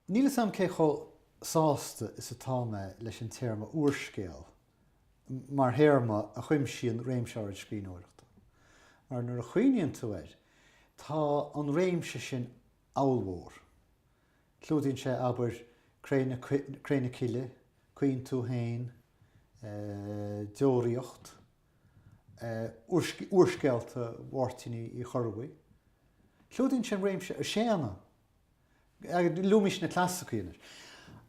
Níl fhios a'm cé chomh sásta is atá mé leis an téarma 'úrscéal' mar théarma a chuimsíonn réimse áirid scríbhneoireachta, mar nuair a chuimhníonn tú air, tá an réimse sin ollmhór. Clúdaíonn sé, abair, 'Cré na Cille', 'Caoin Tú Fhéin', 'Deoraíocht'. úrscéalta Mháirtín Uí Chorrbuí. Clúdaíonn sé an réimse Séadna. Luaimís na clasacaí anois.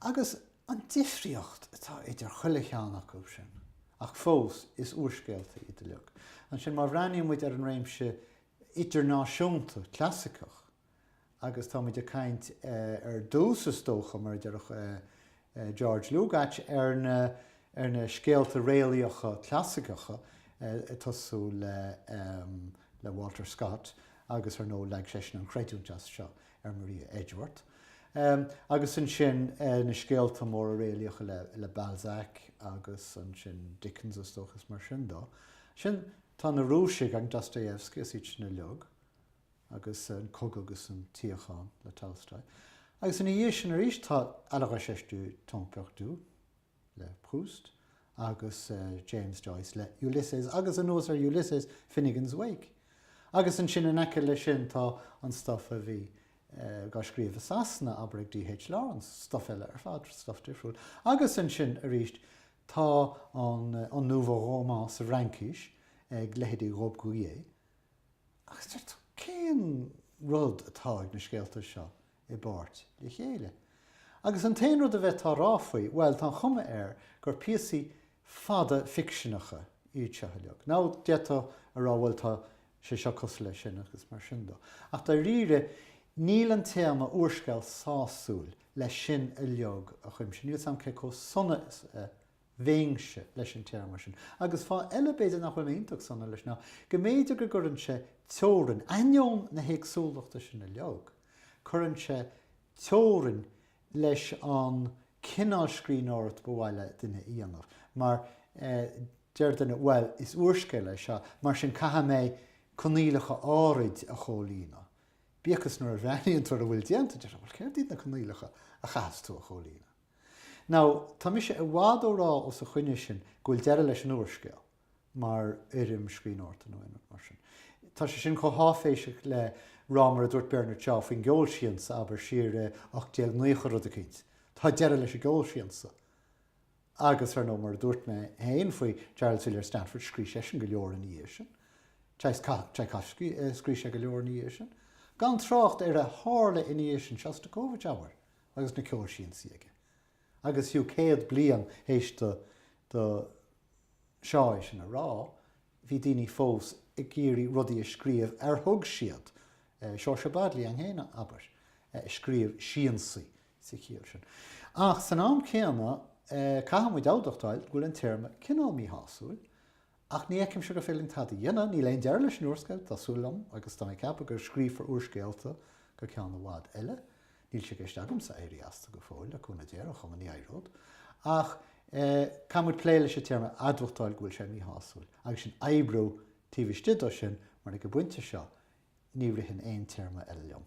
Agus an difríocht atá idir chuile cheann acu sin, ach fós is úrscéalta iad uilig. Ansin má bhreathnaíonn muid ar an réimse idirnáisiúnta clasaiceach, agus táimid ag caint ar dtús is dócha, mar a déarfadh George Lukács, ar na scéalta réalaíocha clasaiceacha, ag tosú le Walter Scott agus ar ndóigh leag seisean an chreidiúint as seo ar Maria Edgeworth, agus ansin na scéalta móra réalaíocha le Balzac agus ansin Dickens is dócha is mar sin de. Ansin tá na Rúisigh agus Dostoevsky is iad sin uilig. agus An Cogadh agus an tSíocháin le Tolstoy, agus ina dhiaidh sin arís tá À la recherche du temps perdu le Proust agus James Joyce le Ulysses agus anuas ar Ulysses, Finnegans Wake. Agus ansin in aice leis sin tá an stuif a bhí á scríobh i Sasana, abair ag D.H. Lawrence, stuif eile ar fad, stuif difriúil. Agus ansin arís tá an nouveau roman sa Fhraincis ag leithéidí Robbe-Grillet, Agus deir tú, cén rud atá ag na scéalta seo i bpáirt le chéile? Agus an t-aon rud a bheifeá a rá faoi, bhuel, tá an chuma air gur píosaí fada ficseanacha iad seo uilig. Now, d'fhéadfá a rá, bhuel, tá sé seo cosúil leis sin agus mar sin de. Ach dáiríre, níl an téarma úrscéal sásúil le sin uilig a chuimsiú. Níl fhios a'm cé chomh sona is a bheinnse leis an téarma sin. Agus fáth eile b'fhéidir nach bhfuil mé iontach sona leis ná go mb'fhéidir go gcuireann sé teorainn, ainneoin na héagsúlachta sin uilig, cuireann sé teorainn leis an cineál scríbhneoireacht ba mhaith le duine a dhéanamh. Mar, deir duine, bhuel, is úrscéal é seo, mar sin caithfidh mé coinníollacha áirid a chomhlíonadh. Bíodh is nuair a bhreathnaíonn tú ar a bhfuil déanta, deir tú, bhuel, céard iad na coinníollacha a chaithfeas tú a chomhlíonadh? Now, tá mise i bhfad ó rá os a choinne sin go bhfuil deireadh leis an úrscéal mar fhoirm scríbhneoireachta nó aon rud mar sin. Tá sé sin chomh háiféiseach le rá mar a dúirt Bernard Shaw faoin gceol siansa, abair, siar i 1890 rud eicínt. Tá deireadh leis an gceol siansa. Agus, ar ndóigh, mar a dúirt mé féin faoi Charles Villiers Stanford, scrí' seisean go leor ina dhiaidh sin. Tchaikovsky, scrí' sé go leor ina dhiaidh sin. Gan trácht ar a tharla ina dhiaidh sin. Shostakovich, abair. agus na ceolsiansaí aige agus fiú céad bliain théis do do Shaw é sin a rá bhí daoine fós ag iarraidh rudaí a scríobh ar thug siad Seoirse Bodley an Fhéinne, abair, a scríobh siansaí sa chiall sin. Ach san am céanna caithfidh muid a admhachtáil go bhfuil an téarma cineál míshásúil Ach ní fheicimse go bhféadfainn tada a dhéanamh, níl aon deireadh leis an úrscéal, tá súil agam, agus tá mé ag ceapadh go scríofar úrscéalta go ceann i bhfad eile. Níl sé i gceist agamsa éirí astu go fóill, le cúnamh Dé, ar aon chuma, ní éireod. Ach caithfidh muid plé leis an téarma admhachtáil go bhfuil sé míshásúil, agus sin oibriú taobh istigh dó sin, mar ag an bpointe seo ní ritheann aon téarma eile liom.